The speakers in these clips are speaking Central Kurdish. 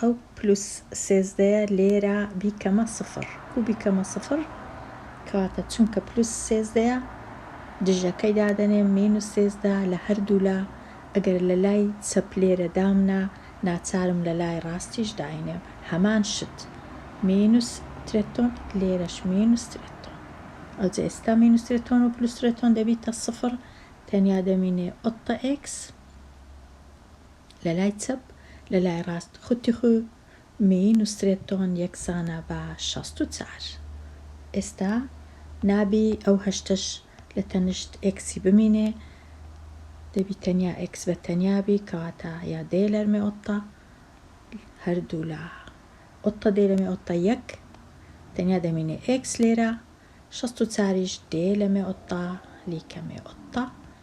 ئەو پلوس سێزدەیە لێرە بیکەمە سفر کو بیکەمە سفر کەواتە چونکە پلوس سێزدەیە دژەکەی دادەنێم مینوس سێزدە لە هەردوولا ئەگەر لە لای چەپ لێرە دامنا ناچارم لە لای ڕاستیش داینێم هەمان شت مینوس ترتۆن لێرەش مینوس ترتۆن ئەوجە ئێستا مینوس ترتۆن و پلوس ترتۆن دەبیتە سفر تەنیا دەمینێ ئۆتتە ئێکس لە لای چەپ لە لای ڕاست خوتی خو میی نوسرێت تۆن یەکسانە بە شەست و چار ئێستا نابی ئەو هەشتەش لە تەنشت ئێکسی بمینێ دەبی تەنیا ئێکس بە تەنیا بی کەواتە یا دێلەر مێ ئۆتتە هەر دوو لا ئۆتتە دێلە مێ ئۆتتە یەک تەنیا دەمینێ ئێکس لێرە شەست و چاریش دێلە مێ ئۆتتە لیکە مێ ئۆتتە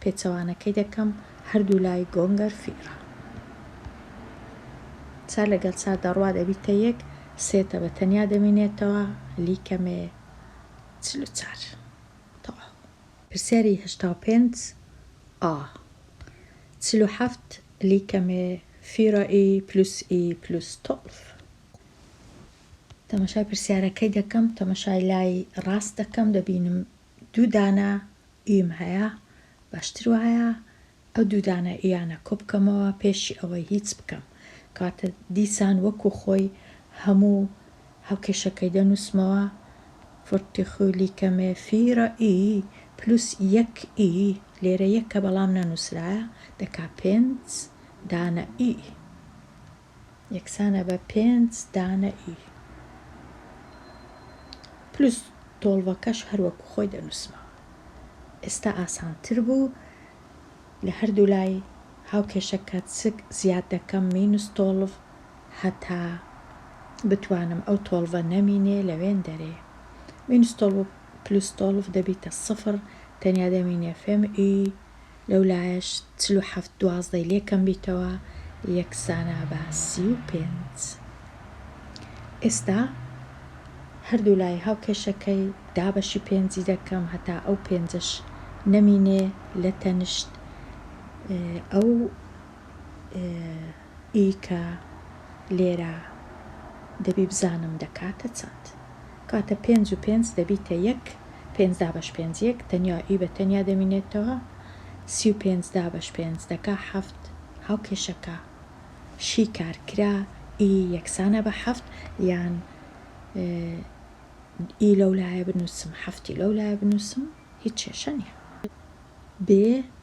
پێچەوانەکەی دەکەم هەردوو لای گۆنگەر فیڕە چار لەگەڵ چار دەڕوا دەبیتە یەک سێ تە بە تەنیا دەمینێتەوە لی کەمێ چل و چار تەواو. پرسیاری هەشتا و پێنج ئا. چل و حەفت لی کەمێ فیڕە ی پلوس ی پلوس تۆڵڤ. تەمەشای پرسیارەکەی دەکەم تەمەشای لای ڕاست دەکەم دەبینم دوو دانە یم هەیە باشتر وایە ئەو دوو دانە یانە کۆبکەمەوە پێشی ئەوەی هیچ بکەم کەواتە دیسان وەکو خۆی هەموو هاوکێشەکەی دەنوسمەوە فرتخو لیکەمێ فیرە ی پلوس یەک ی لێرە یەکە بەڵام نەنوسرایە دەکا پێنج دانە ی یەکسانە بە پێنج دانە ی پلوس تۆڵڤەکەش هەر وەکو خۆی دەنوسمەوە ئێستا ئاسانتر بوو لە هەردوو لای هاوکێشە کات سک زیاد دەکەم مینوس تۆڵڤ هەتا بتوانم ئەو تۆڵڤە نەمینێ لەوێن دەرێ مینوس تۆڵڤ پلوس تۆڵڤ دەبیتە سفر تەنیا دەمینێ فم ی لەولایەش چل و حەفت دوازدەی لێ کەم بیتەوە یەکسانە بە سی و پێنج. ئێستا هەردوو لای هاوکێشەکەی دابەشی پێنجی دەکەم هەتا ئەو پێنجەش نەمینێ لە تەنشت ئەو. ی کە لێرە دەبی بزانم دەکاتە چەند؟ کاتە پێنج و پێنج دەبیتە یەک، پێنج دابەش پێنج یەک، تەنیا ی بە تەنیا دەمینێتەوە، سی و پێنج دابەش پێنج دەکا حەفت، هاوکێشەکە، شی کارکرا، ی یەکسانە بە حەفت، یان ی لەو لایە بنووسم حەفتی لەو لایە بنووسم هیچ کێشە نییە. بێ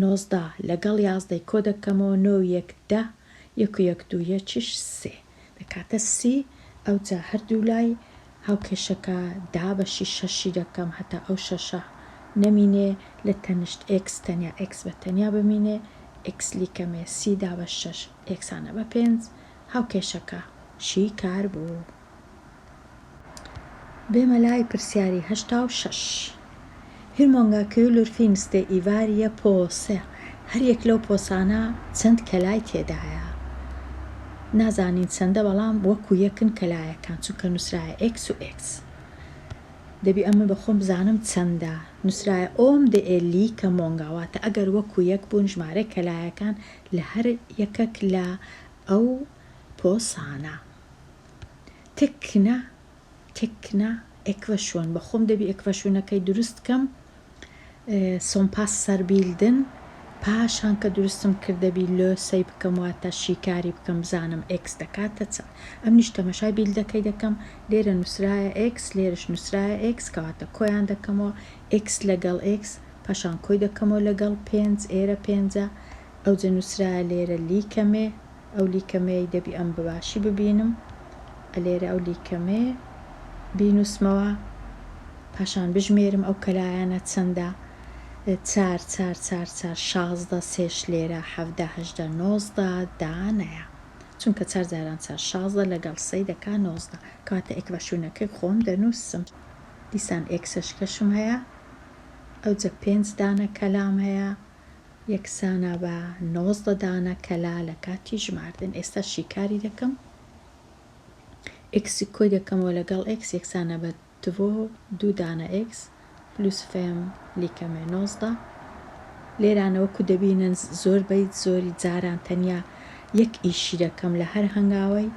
نۆزدە لەگەڵ یازدەی کۆ دەکەمەوە نۆ و یەک دە یەک و یەک دوو یەکیش سێ دەکاتە سی ئەوجا هەردوو لای هاوکێشەکە دابەشی شەشی دەکەم هەتا ئەو شەشە نەمینێ لە تەنشت ئێکس تەنیا ئێکس بە تەنیا بمینێ ئێکس لیکەمێ سی دابەش شەش یەکسانە بە پێنج هاوکێشەکە شی کار بوو. بێمە لای پرسیاری هەشتا و شەش. هیرمۆنگا کیولور فینستێ ئیڤار یە پۆسێ هەر یەک لەو پۆسانە چەند کەلای تێدایە نازانین چەندە بەڵام وەکو یەکن کەلایەکان چونکە نوسرایە ئێکس و ئێکس دەبی ئەمن بە خۆم بزانم چەندە نوسرایە ئۆم دە ئێ لی کە مۆنگا واتە ئەگەر وەکو یەک بوون ژمارەی کەلایەکان لە هەر یەکەک لە ئەو پۆسانە. تکنە تکنە ئێکڤەشوەن بە خۆم دەبی ئێکڤەشوونەکەی دروست کەم سۆمپاس سەربیلدن پاشان کە دروستم کردەبی لۆ سەی بکەم واتە شیکاری بکەم بزانم ئێکس دەکاتە چەند ئەم نیش تەمەشای بیلدەکەی دەکەم لێرە نووسرایە ئێکس لێرش نووسرایە ئێکس کەواتە کۆیان دەکەمەوە ئێکس لەگەڵ ئێکس پاشان کۆی دەکەمەوە لەگەڵ پێنج ئێرە پێنجە ئەوجە نوسرایە لێرە لیکەمێ ئەو لیکەمێی دەبی ئەم بەباشی ببینم ئەلێرە ئەو لیکەمێ بینوسمەوە پاشان بژمێرم ئەو کەلایانە چەندە چار چار چار چار شازدە سێش لێرە حەڤدە هەژدە نۆزدە دا نەیە چونکە چار جاران چار شازدە لەگەڵ سەی دەکا نۆزدە کەواتە ئێکڤەشونەکەی خۆم دەنوسم دیسان ئێکسەشکەشم هەیە ئەوجە پێنج دانە کەلام هەیە. یەکسانە بە نۆزدە دانە کەلا لە کاتی ژماردن ئێستا شیکاری دەکەم ئێکسی کۆی دەکەمەوە لەگەڵ ئێکس یەکسانە بە تڤۆ دوو دانە ئێکس پلوس فێم لیکەمێ نۆزدە لێرانەوەکو دەبینن زۆر بیت زۆری جاران تەنیا یەک ئیشی دەکەم لە هەر هەنگاوەی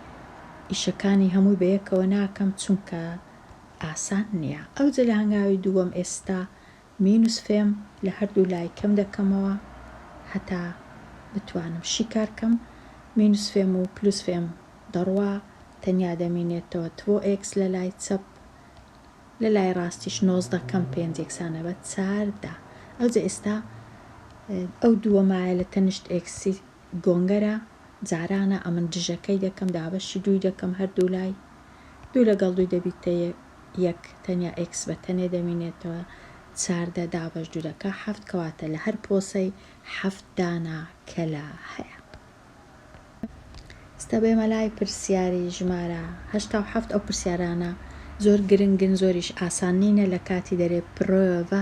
ئیشەکانی هەمووی بە یەکەوە ناکەم چونکە ئاسان نییە ئەوجە لە هەنگاوی دووەم ئێستا مینوس فێم لە هەردوو لای کەم دەکەمەوە هەتا بتوانم شیکار کەم مینوس فێم و پلوس فێم دەڕوا تەنیا دەمینێتەوە تڤۆ ئێکس لە لای چەپ لە لای ڕاستیش نۆزدە کەم پێنج یەکسانە بە چار دا ئەوجە ئێستا ئەو دووەمایە لە تەنیشت ئێکسی گۆنگەرە جارانە ئەمن دژەکەی دەکەم دابەشی دووی دەکەم هەر دوو لای دوو لەگەڵ دووی دەبیتە یەک تەنیا ئێکس بە تەنێ دەمینێتەوە چاردە دابەش دوو دەکا حەفت کەواتە لە هەر پۆسەی حەفت دانا کەلە هەیە ستە بێمە لای پرسیاری ژمارە هەشتا و حەفت ئەو پرسیارانە زۆر گرنگن زۆریش ئاسان نینە لە کاتی دەرێ پرۆڤە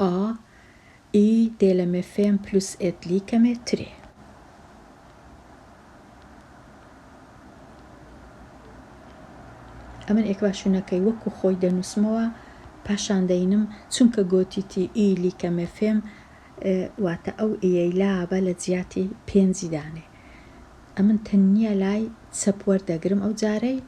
ئا ی دێ لە مێ فێم پلوس ئێت لی کە مێ ترێ. ئەمن ئێکواشونەکەی وەکوو خۆی دەنووسمەوە پاشان دەینم چونکە گۆتیتی ئی لی کە مێ فێم واتە ئەو ئیەی لا بە لە جیاتی پێنجی دانێ ئەمن تەنیا لای چەپ وەردەگرم ئەو جارەی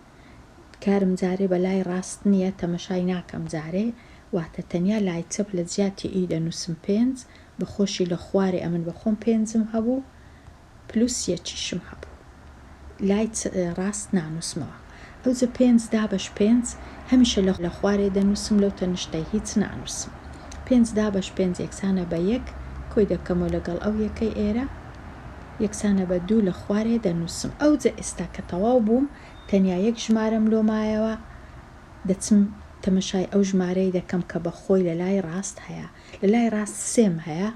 کارم جارێ بە لای ڕاست نییە تەمەشای ناکەم جارێ واتە تەنیا لای چەپ لە جیاتی ی دەنووسم پێنج بە خۆشی لە خوارێ ئەمن بە خۆم پێنجم هەبوو پلوس یەکیشم هەبوو لای ڕاست نانووسمەوە ئەوجە پێنج دابەش پێنج هەمیشە لە خوارێ دەنووسم لەو تەنیشتە هیچ نانووسم پێنج دابەش پێنج یەکسانە بە یەک کۆی دەکەمەوە لەگەڵ ئەو یەکەی ئێرە. یەکسانە بە دوو لە خوارێ دەنووسم. ئەوجە ئێستا کە تەواو بووم، تەنیا یەک ژمارەم لۆ مایەوە، دەچم تەمەشای ئەو ژمارەی دەکەم کە بە خۆی لە لای ڕاست هەیە. لە لای ڕاست سێم هەیە،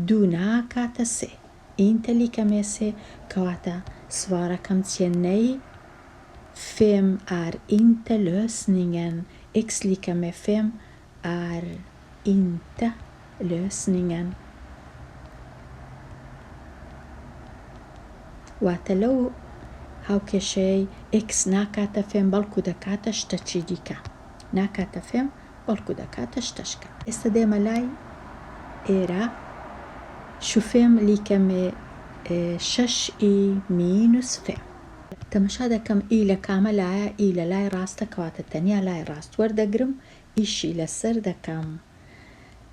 دوو ناکاتە سێ. ئینتە لیکەمێ سێ، کەواتە سڤارەکەم چییە؟ نەی فێم ئار ئینتە لۆسنینگەن، ئێکس لیکەمێ فێم Är inte lösningen واتە لەو هاوکێشەیەی X ناکاتە فێم بەڵکو دەکاتە شتەکی دیکە ناکاتە فێم بەڵکو دەکاتە شتەشکە. ئێستا دێمە لای ئێرە شوفێم لیکە مێ شەش ئی مینوس فێم. تەمەشا دەکەم ئی لە کامە لایە ئی لە لای ڕاستە کەواتە تەنیا لای ڕاست وەردەگرم ئیشی لەسەر دەکەم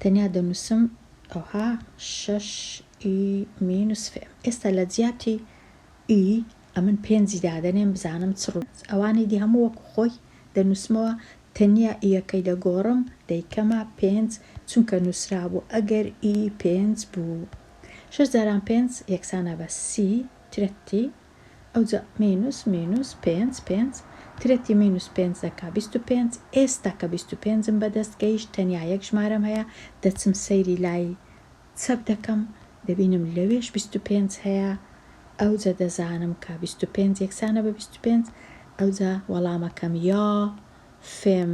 تەنیا دەنوسم ئەوها شەش ی مینوس فێ ئێستا لەجیاتی ی ئەمن پێنجی دادەنێم بزانم چ ڕوو ئەوانی دی هەموو وەکو خۆی دەنوسمەوە تەنیا یەکەی دەگۆڕم دەیکەمە پێنج چونکە نوسرابوو ئەگەر ی پێنج بوو شەش جاران پێنج یەکسانە بە سی ترەتی ئەوجا مینوس مینوس پێنج پێنج ترەتی مینوس پێنج دەکا بیست و پێنج ئێستا کە بیست و پێنجم بەدەست گەیشت تەنیا یەک ژمارەم هەیە دەچم سەیری لای چەپ دەکەم دەبینم لەوێش بیست و پێنج هەیە ئەوجە دەزانم کە بیست و پێنج یەکسانە بە بیست و پێنج ئەوجا وەڵامەکەم یا فێم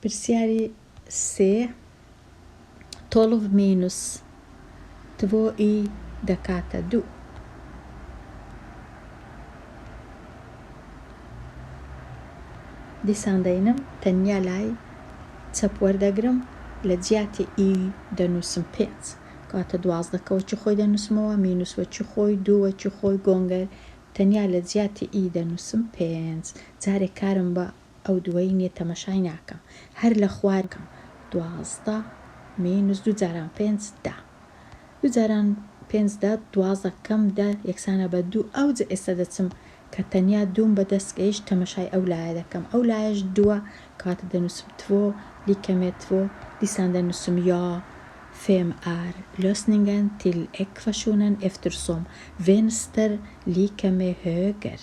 پرسیاری سێ، تۆڵڤ مینوس تڤۆ ی دەکاتە دوو. دیسان دەینم تەنیا لای چەپ وەردەگرم لە جیاتی ی دەنووسم پێنج کەواتە دوازدە کە وەکی خۆی دەنووسمەوە مینوس وەکی خۆی دوو وەکی خۆی گۆنگەر تەنیا لە جیاتی ی دەنووسم پێنج جارێ کارم بە ئەو دووەی نیە تەمەشای ناکەم هەر لە خوار کەم دوازدە مینوس دوو جاران پێنج دە دوو جاران پێنج دە دوازدە کەم دە یەکسانە بە دوو ئەوجە ئێستا دەچم کە تەنیا دووم بە دەست گەیشت تەمەشای ئەو لایە دەکەم ئەو لایەش دووە کەواتە دەنوسم تڤۆ لی کەمێ تڤۆ دیسان دەنوسم یا فێم ئار لۆسنینگەن تیل ئێکڤەشونەن ئێفترسۆم ڤێنستر لی کەمێ هۆگەر.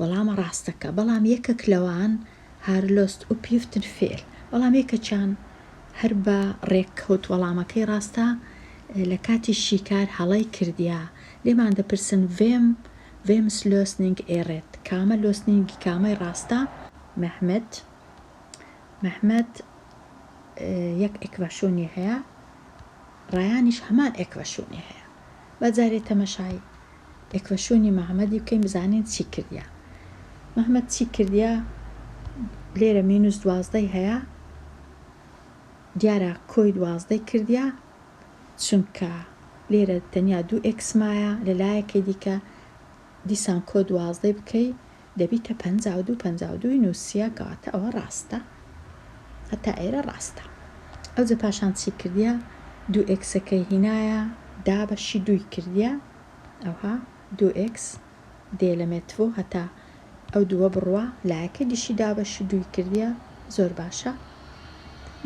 وەڵامە ڕاستەکە، بەڵام یەکەک لەوان هار لۆست ئوپیفتن فێل، بەڵام یەکەکیان هەر بە ڕێککەوت وەڵامەکەی ڕاستە لە کاتی شیکار هەڵەی کردیە، لێمان دەپرسن ڤێم ڤێمس لۆسنینگ ئێ ڕێت، کامە لۆسنینگی کامەی ڕاستە؟ مەهمەت مەهمەت یەک ئێکڤاشۆنی هەیە، ڕایانیش هەمان ئێکڤاشۆنی هەیە، با جارێ تەمەشای لێکفشونی مەهمەدی بکەین بزانین چی کردیە مەهمەد چی کردیە لێرە مینوس دوازدەی هەیە دیارە کۆی دوازدەی کردیە چونکە لێرە تەنیا دوو ئێکس مایە لە لایەکەی دیکە دیسان کۆ دوازدەی بکەی دەبیتە پەنجا و دوو پەنجا و دووی نوسیە کەواتە ئەوە ڕاستە هەتا ئێرە ڕاستە ئەوجە پاشان چی کردیە دوو ئێکسەکەی هینایە دا بەشی دووی کردیە ئەوها دوو ئێکس دێ لە مێتڤۆ هەتا ئەو دووە بڕوا لایەکەی دیشی دا بەشی دووی کردیە زۆر باشە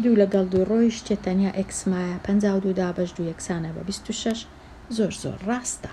دوو لەگەڵ دوو ڕۆیشتە تەنیا ئێکس مایە پەنجا و دوو دا بەش دوو یەکسانە بە بیست و شەش زۆر زۆر ڕاستە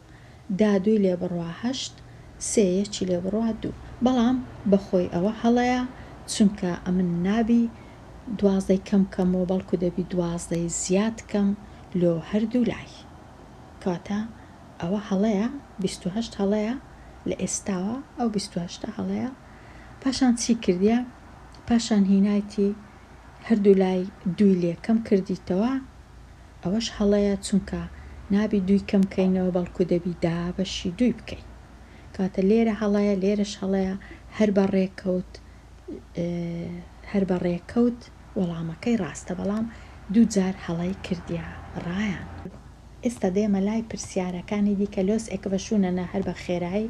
دا دووی لێ بڕوا هەشت سێ یەکی لێ بڕوا دوو بەڵام بەخۆی ئەوە هەڵەیە چونکە ئەمن نابی دوازدەی کەم کەمەوە بەڵکو دەبی دوازدەی زیاد کەم لۆ هەردوو لای کەواتە ئەوە هەڵەیە بیست و هەشت هەڵەیە لە ئێستاوە ئەو بیست و هەشتە هەڵەیە پاشان چی کردیە پاشان هینایتی هەردوو لای دووی لێ کەم کردیتەوە ئەوەش هەڵەیە چونکە نابی دووی کەم کەینەوە بەڵکو دەبی دا بەشی دووی بکەی کەواتە لێرە هەڵەیە لێرەش هەڵەیە هەر بە ڕێکەوت هەر بە ڕێکەوت وەڵامەکەی ڕاستە بەڵام دوو جار هەڵەی کردیە ڕایان. ئێستا دێمە لای پرسیارەکانی دیکە لۆس ئێکڤەشونەنە هەر بە خێرایی.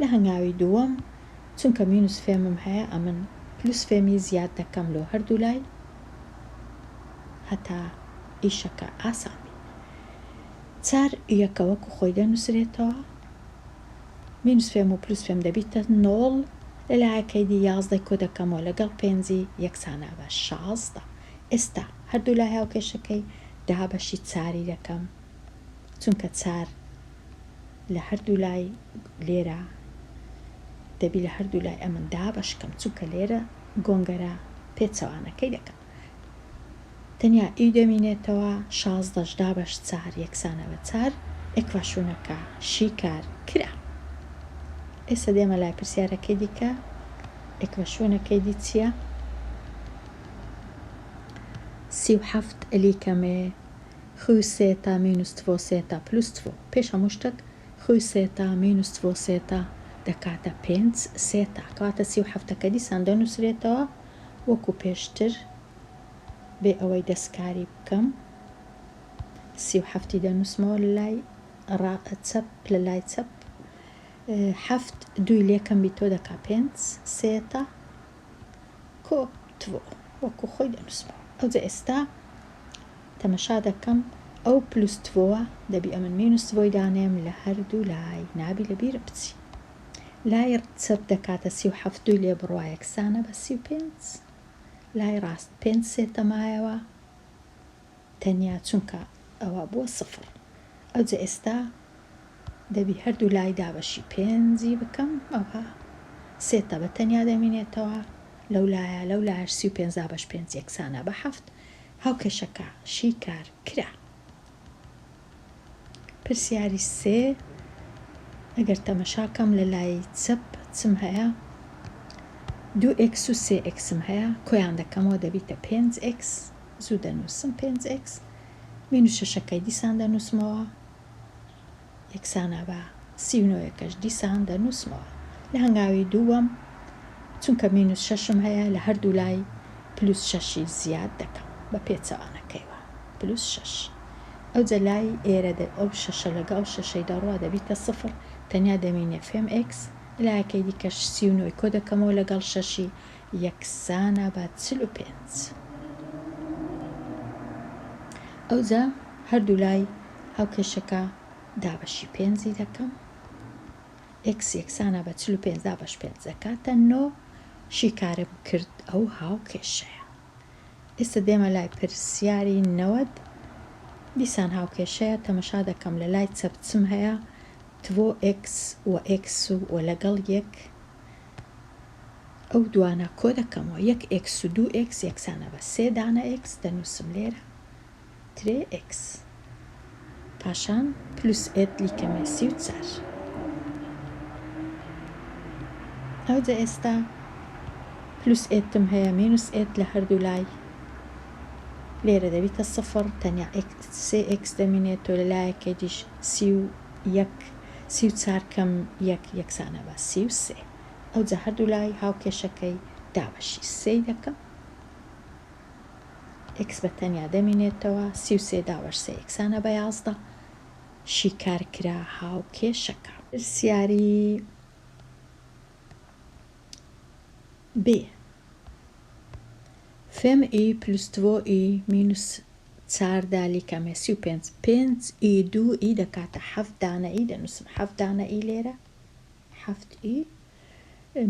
لە هەنگاوی دووەم چونکە مینوس فێمم هەیە ئەمن پلوس فێمی زیاد دەکەم لۆ هەردوو لای هەتا ئیشەکە ئاسان بی چار یەکە وەکو خۆی دەنوسرێتەوە مینوس فێم و پلوس فێم دەبیتە نۆڵ لە لایەکەی دی یازدەی کۆ دەکەمەوە لەگەڵ پێنجی یەکسانە بە شازدە ئێستا هەردوو لای هاوکێشەکەی دابەشی چاری دەکەم چونکە چار لە هەردوو لای لێرە دەبی لە هەردوو لای ئەمن دابەشکەم چونکە لێرە گۆنگەرە پێچەوانەکەی دەکەم تەنیا ئی دەمینێتەوە شازدەش دابەش چار یەکسانە بە چار ئێکڤاشونەکە شیکار کرا ئێستا دێمە لای پرسیارەکەی دیکە ئێکڤاشونەکەی دی چییە؟ سی و حەفت ئەلیکەمێ خوسێتا مینوستڤۆسێتا پلوستڤۆ، پێش هەموو شتەک خوسێتا مینوستڤۆسێتا دەکاتە پێنج سێتا کەواتە سی و حەفتە کە دیسان دەنووسرێتەوە وەکو پێشتر بێ ئەوەی دەستکاری بکەم سی و حەفتی دەنووسمەوە لای ڕا چەپ لە لای چەپ حەفت دووی لێکەم بیتۆ دەکا پێنج سێتا کۆ تڤۆ وەکو خۆی دەنووسمەوە ئەوجە ئێستا تەمەشا دەکەم ئەو پل و ستڤۆوە دەبی ئەمن مین و ستڤۆی دانێم لە هەردوو لای نابی لە بیر بچی لای چەپ دەکاتە سی و حەفت دووی لێ بڕوا یەکسانە بە سی و پێنج لای ڕاست پێنج سێتە مایەوە تەنیا چونکە ئەوە بووە سفڕ ئەوجە ئێستا دەبی هەردوو لای دابەشی پێنجی بکەم ئەوها سێتە بە تەنیا دەمینێتەوە لەو لایە لەو لایش سی و پێنج دابەش پێنج یەکسانە بە حەفت هاوکێشەکە شیکار کرا. پرسیاری سێ، ئەگەر تەمەشا کەم لە لای چەپ چم هەیە؟ دوو ئێکس و سێ ئێکسم هەیە، کۆیان دەکەمەوە دەبیتە پێنج ئێکس، زوو دەنووسم پێنج ئێکس، مینوس شەشەکەی دیسان دەنووسمەوە. یەکسانە بە سی و نۆ ەکەش دیسان دەنووسمەوە لە هەنگاوی دووەم چونکە مینوس شەشم هەیە لە هەردوو لای پلوس شەشی زیاد دەکەم بە پێچەوانەکەیوە پلوس شەش ئەوجە لای ئێرە دە ئەو شەشە لەگەڵ شەشەی دەڕوا دەبیتە سفر تەنیا دەمینێ فێم ئێکس لایەکەی دیکەش سی و نۆ ی کۆدەکەمەوە لەگەڵ شەشی یەکسانە بە چل و پێنج. ئەوجا هەردوولای هاوکێشەکە دابەشی پێنجی دەکەم. ئێکس یەکسانە بە چل و پێنج دابەش پێنج دەکاتە نۆ. شیکارم کرد ئەو هاوکێشەیە. ئێستا دێمە لای پرسیاری نەوەد. دیسان هاوکێشەیە تەمەشا دەکەم لە لای چەپ چم هەیە تڤۆ ئێکس و ئێکس و لەگەڵ یەک. ئەو دوانە کۆ دەکەمەوە یەک ئێکس و دوو ئێکس یەکسانە بە سێ دانە ئێکس دەنووسم لێرە ترێ ئێکس پاشان پلوس ئێت لیکەمێ سی و چار ئەوجە ئێستا پلوس ئێتم هەیە مینوس ئێت لە هەردوو لای لێرە دەبیتە سفر تەنیا سێ ئێکس دەمینێت تۆ لە لایەکێ دیش سی و یەک سی و چار کەم یەک یەکسانە بە سی و سێ ئەوجا هەردوولای هاوکێشەکەی دابەشی سێی دەکەم ئێکس بە تەنیا دەمینێتەوە سی و سێ دابەش سێ یەکسانە بە یازدە شیکار کرا هاوکێشەکە. پرسیاری بێ. فێم ئی پلس دڤۆ ئی مینوس چار دالی کەمێ سی و پێنج پێنج ئی دوو ئی دەکاتە حەفت دانە ئی دەنووسم حەفت دانە ئی لێرە حەفت ئی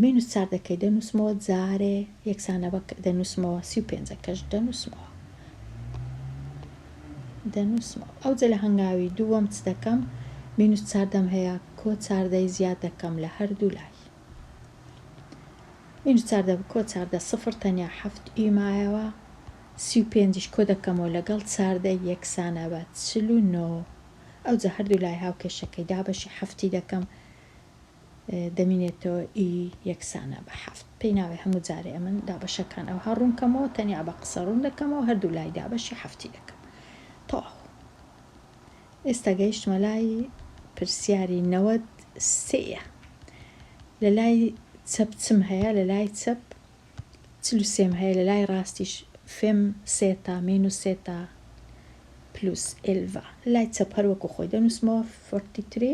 مینوس چار دەکەی دەنووسمەوە جارێ یەکسانە بە دەنووسمەوە سی و پێنجەکەش دەنووسمەوە دەنووسمەوە ئەو جە لە هەنگاوی دووەم چ دەکەم مینوس چار دەم هەیە کۆ چاردەی زیاد دەکەم لە هەردوو لای ئینج چاردە بکۆ چاردە سفر تەنیا حەفت ی مایەوە سی و پێنج ش کۆدەکەمەوە لەگەڵ چاردە ی یەکسانە بە چل و نۆ ئەوجا هەردوو لای هاوکێشەکەی دابەشی حەفت ی دەکەم دەمینێتەوە ی یەکسانە بە حەفت پێی ناوێ هەموو جارێ ئەمن دابەشەکان ئەوها ڕوون کەمەوە تەنیا بە قسە ڕوون دەکەمەوە هەردوو لای دابەشی حەفت ی دەکەم تەواو. ئێستا گەیشتمە لای پرسیاری نەوەد سێ یە لە لای چەپ چم هەیە لە لای چەپ چل و سێم هەیە لە لای ڕاستیش فێم سێتا مین و سێتا پلوس ئێلڤا لە لای چەپ هەر وەکو خۆی دەنووسمەوە فۆرتی تری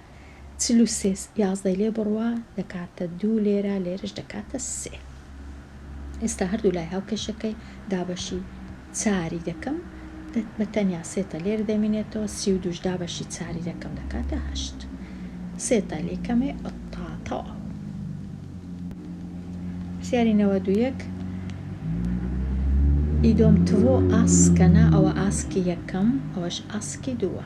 چل و سێ یازدەی لێ بڕە دەکاتە دوو لێرە لێرەش دەکاتە سێ ئێستا هەردوو لای هاوکێشەکەی دابەشی چاری دەکەم بە تەنیا سێتە لێر دەمینێتەوە سی و دووش دابەشی چاری دەکەم دەکاتە هەشت سێتە لێ کەمێ ئەتاتەوە پرسیاری نەوە دوویەک ئیدۆم تڕۆ ئاسکەنا ئەوە ئاسکی یەکەم ئەوەش ئاسکی دووە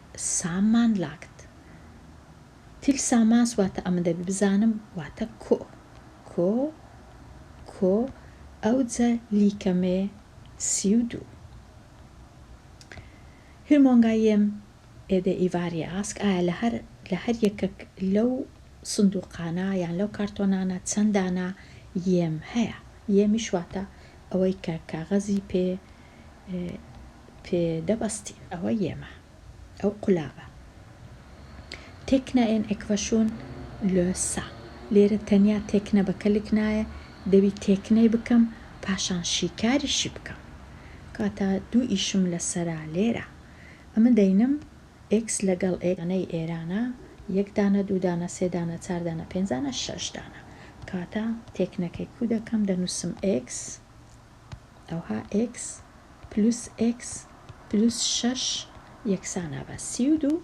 سامان لاکت تیل ساماس واتە ئەمن دەبی بزانم واتە کۆ کۆ کۆ ئەوجە لیکەمێ سی و دوو هیر مۆنگا یێم ئێدێ ئیڤاریە ئاسک ئایا لە هەر لە هەر یەکەک لەو سندووقانە یان لەو کارتۆنانە چەند دانە یێم هەیە یێمیش واتە ئەوەی کە کاغەزی پێ پێ دەبەستین ئەوە یێمە ئەو قولابە تێکنا ئێن ئێکڤەشون لۆ سا لێرە تەنیا تێکنە بە کەلک نایە دەبی تێکنەی بکەم پاشان شیکاریشی بکەم کاتا دوو ئیشم لە سەرا لێرە ئەمە دەینم ئێکس لەگەڵ ئێ ئەنەی ئێرانە یەک دانە دوو دانە سێ دانە چار دانە پێنج دانە شەش دانە کاتا تێکنەکەی کو دەکەم دەنوسم ئێکس ئەوها ئێکس پلوس ئێکس پلوس شەش یەکسانە بە سی و دوو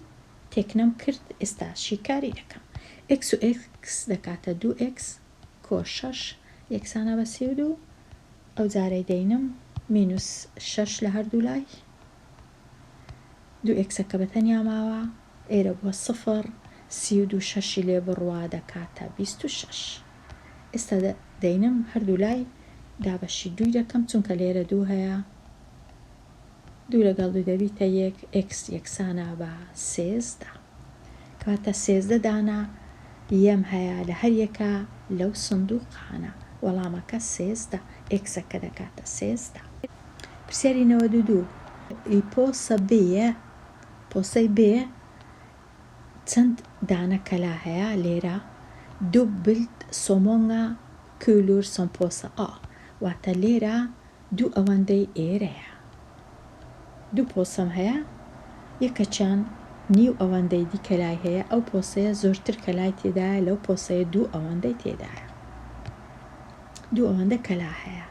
تێکنەم کرد ئێستا شیکاری دەکەم ئێکس و ئێکس دەکاتە دوو ئێکس کۆ شەش یەکسانە بە سی و دوو ئەو جارەی دەینم مینوس شەش لە هەردوو لای دوو ئێکسەکە بە تەنیا ماوە ئێرە بووە سفر سی و دوو شەشی لێ بڕوا دەکاتە بیست و شەش ئێستا دەینم هەردوو لای دابەشی دووی دەکەم چونکە لێرە دوو هەیە دوو لەگەڵ دوو دەبیتە یەک ئێکس یەکسانە بە سێزدە کەواتە سێزدە دانە یەم هەیە لە هەر یەکە لەو سندوقانە وەڵامەکە سێزدە ئێکسەکە دەکاتە سێزدە پرسیاری نەوەد و دوو ی پۆسە بێ پۆسەی بێ چەند دانە کەلا هەیە لێرە دوبلت سۆ مۆنگا کولور سۆن پۆسە ئا واتە لێرە دوو ئەوەندەی ئێرەیە دوو پۆسەم هەیە یەکەکیان نیو ئەوەندەی دی کەلای هەیە ئەو پۆسەیە زۆرتر کەلای تێدایە لەو پۆسەیە دوو ئەوەندەی تێدایە دوو ئەوەندە کەلا هەیە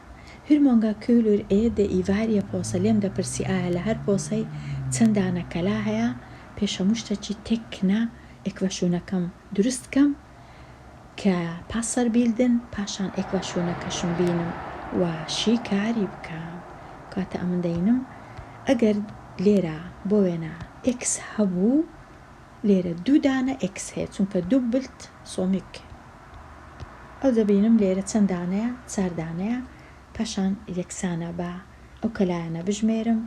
هر مۆنگا کولور ئێ دە ئیڤاریە پۆسە لێم دەپرسی ئایا لە هەر پۆسەی چەندانە کەلا هەیە پێش هەموو شتەکی تێک کنە ئێکڤەشونەکەم دروست کەم کە پاسەر بیلدن پاشان ئێکڤەشونەکەشم بینم و شی کاری بکەم کاتە ئەمن دەینم ئەگەر لێرە بۆ وێنە ئێکس هەبوو لێرە دوو دانە ئێکس هەیە چونکە دوبلت سۆمیک ئەو دەبینم لێرە چەند دانەیە چار دانەیە پاشان یەکسانە بە ئەو کەلایەنە بژمێرم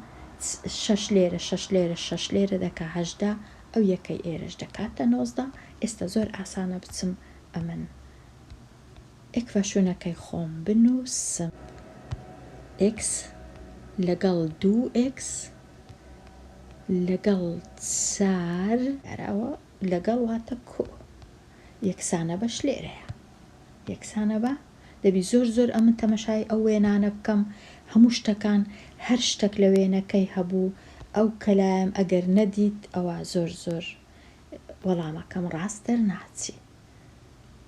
شەش لێرە شەش لێرە شەش لێرە دەکا هەژدە ئەو یەکەی ئێرەش دەکاتە نۆزدە ئێستا زۆر ئاسانە بچم ئەمن ئێکڤەشونەکەی خۆم بنوسم ئێکس لەگەڵ دوو ئێکس لەگەڵ چار لەگەڵ واتە کۆ. یەکسانە بەش لێرەیە یەکسانە بە دەبی زۆر زۆر ئەمن تەمەشای ئەو وێنانە بکەم هەموو شتەکان هەر شتەک لە وێنەکەی هەبوو ئەو کەلایەم ئەگەر نەدیت ئەوە زۆر زۆر وەڵامەکەم ڕاست دەرناچی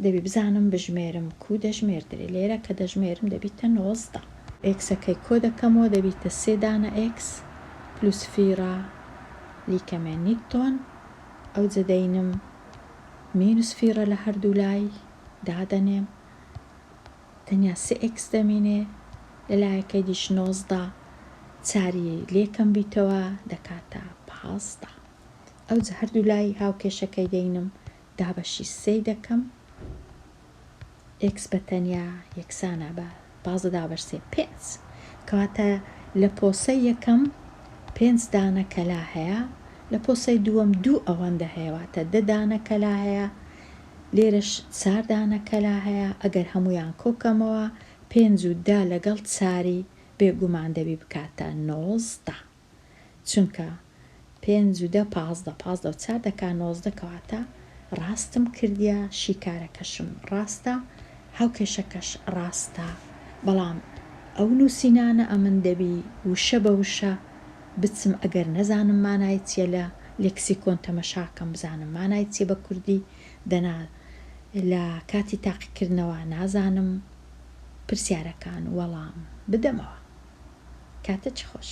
دەبی بزانم بژمێرم کو دەژمێردرێ لێرە کە دەژمێرم دەبیتە نۆزدە ئێکسەکەی کۆ دەکەمەوە دەبیتە سێ دانە ئێکس پلوس فیڕا لیکەمێ نیتۆن ئەوجە دەینم مینوس فیڕە لە هەردوو لای دادەنێم تەنیا سێ ئێکس دەمینێ لە لایەکەی دیش نۆزدە چاری لێکەم بیتەوە دەکاتە پازدە ئەوجە هەردوو لای هاوکێشەکەی دەینم دابەشی سێی دەکەم ئێکس بە تەنیا یەکسانە بە پازدە دابەشسێ پێنج کەواتە لە پۆسەی یەکەم پێنج دانە کەلا هەیە لە پۆسەی دووەم دوو ئەوەندە هەیە واتە دە دانە کەلا هەیە لێرەش چار دانە کەلا هەیە ئەگەر هەموویان کۆکەمەوە پێنج و دە لەگەڵ چاری بێگومان دەبی بکاتە نۆزدە چونکە پێنج و دە پازدە پازدە و چار دەکا نۆزدە کەواتە ڕاستم کردیە شیکارەکەشم ڕاستە هاوکێشەکەش ڕاستە بەڵام ئەو نوسینانە ئەمن دەبی وشە بە وشە بچم ئەگەر نەزانم مانای چیە لە لێکسیکۆن تەمەشاکەم بزانم مانای چیە بە کوردی دەنا لە کاتی تاقیکردنەوە نازانم پرسیارەکان وەڵام بدەمەوە. کاتت خۆش.